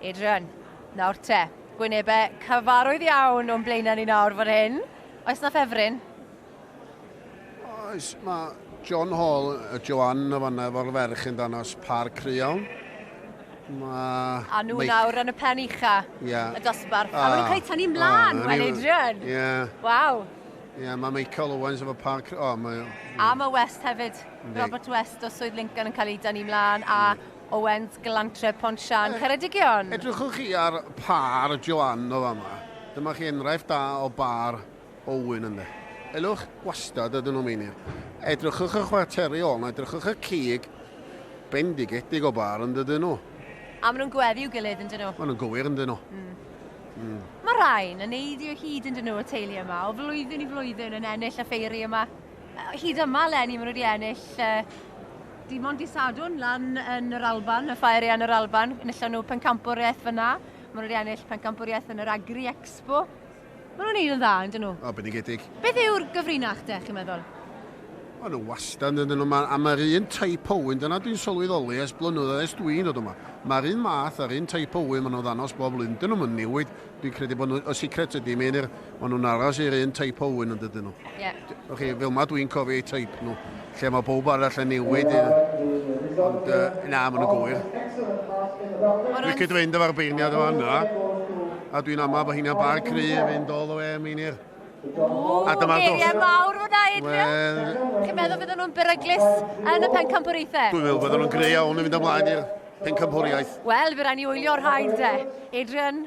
Adrian, nawr te, gwynebau cyfarwydd iawn o'n blaenau ni nawr fan hyn. Oes na ffefryn? Oes, mae John Hall, y Joanne y fanna efo'r ferch yn danos par cry iawn. Mae... A nhw Mike... nawr yn y pen ucha, yeah. y dosbarth. A, a maen nhw'n cael eu tynnu mlaen, oh, wel Adrian. Yeah. Waw. Ie, mae Michael Owens efo Park... O, mae... A mae West hefyd. Yndi. Robert West o Swydd Lincoln yn cael ei dynnu mlaen, a Owens, Glantref, Pont Siân, E- Ceredigion. Edrychwch chi ar pâr Joanne o fama. Dyma chi enghraifft da o bâr Owen ynde. Elwch gwastad ydyn nhw meinir. Edrychwch y chwarteri ôl 'na, edrychwch y cig bendigedig o bâr yn dydyn nhw. A maen nhw'n gweddu i'w gilydd yn dyn nhw. Maen nhw'n gywir yn dyn nhw. Mm. Mae rhain yn eiddio hyd yn dyn nhw y teulu yma, o flwyddyn i flwyddyn yn ennill y ffeiri yma. Hyd yma, Lenny, maen nhw wedi ennill uh, dim ond disadwn lan yn yr Alban, y ffair yn yr Alban, enillon nhw pencampwriaeth fyna, maen nhw wedi ennill pencampwriaeth yn yr Agri Expo, Maen nhw'n neud yn dda, yndyn nhw? O, bendigedig. Beth yw'r gyfrinach de, chi'n meddwl? O, nhw wastad yn nhw, ma, a mae'r un type o wyn, dyna dwi'n sylweddoli ers blynyddoedd ers dwi'n dod yma. Mae'r un math, yr un type o wyn maen nhw'n ddanos bob blwyddyn, dyn nhw'm yn newid. Dwi'n credu bod nhw, y secret ydy, mae'n yr, maen nhw'n aros i'r un type o wyn yn dydyn nhw. Ie. Yeah. O'ch chi, fel ma dwi'n cofio eu type nhw. Lle mae pawb arall yn newid, ond na, maen nhw'n gywir. Dwi'n cyd fynd efo'r beirniad yma yna, a dwi'n amau bod hynna'n bar cry i fynd all the way am Einir. A dyma'r dos. Geiriau mawr fyna, Adrian. Wel... Chi'n meddwl fydden nhw'n beryglus yn y pencampwriaethau? Dwi'n meddwl fydden nhw'n greu iawn yn mynd ymlaen i'r pencampwriaeth. Wel, fe rai ni wylio'r rhain de. Adrian,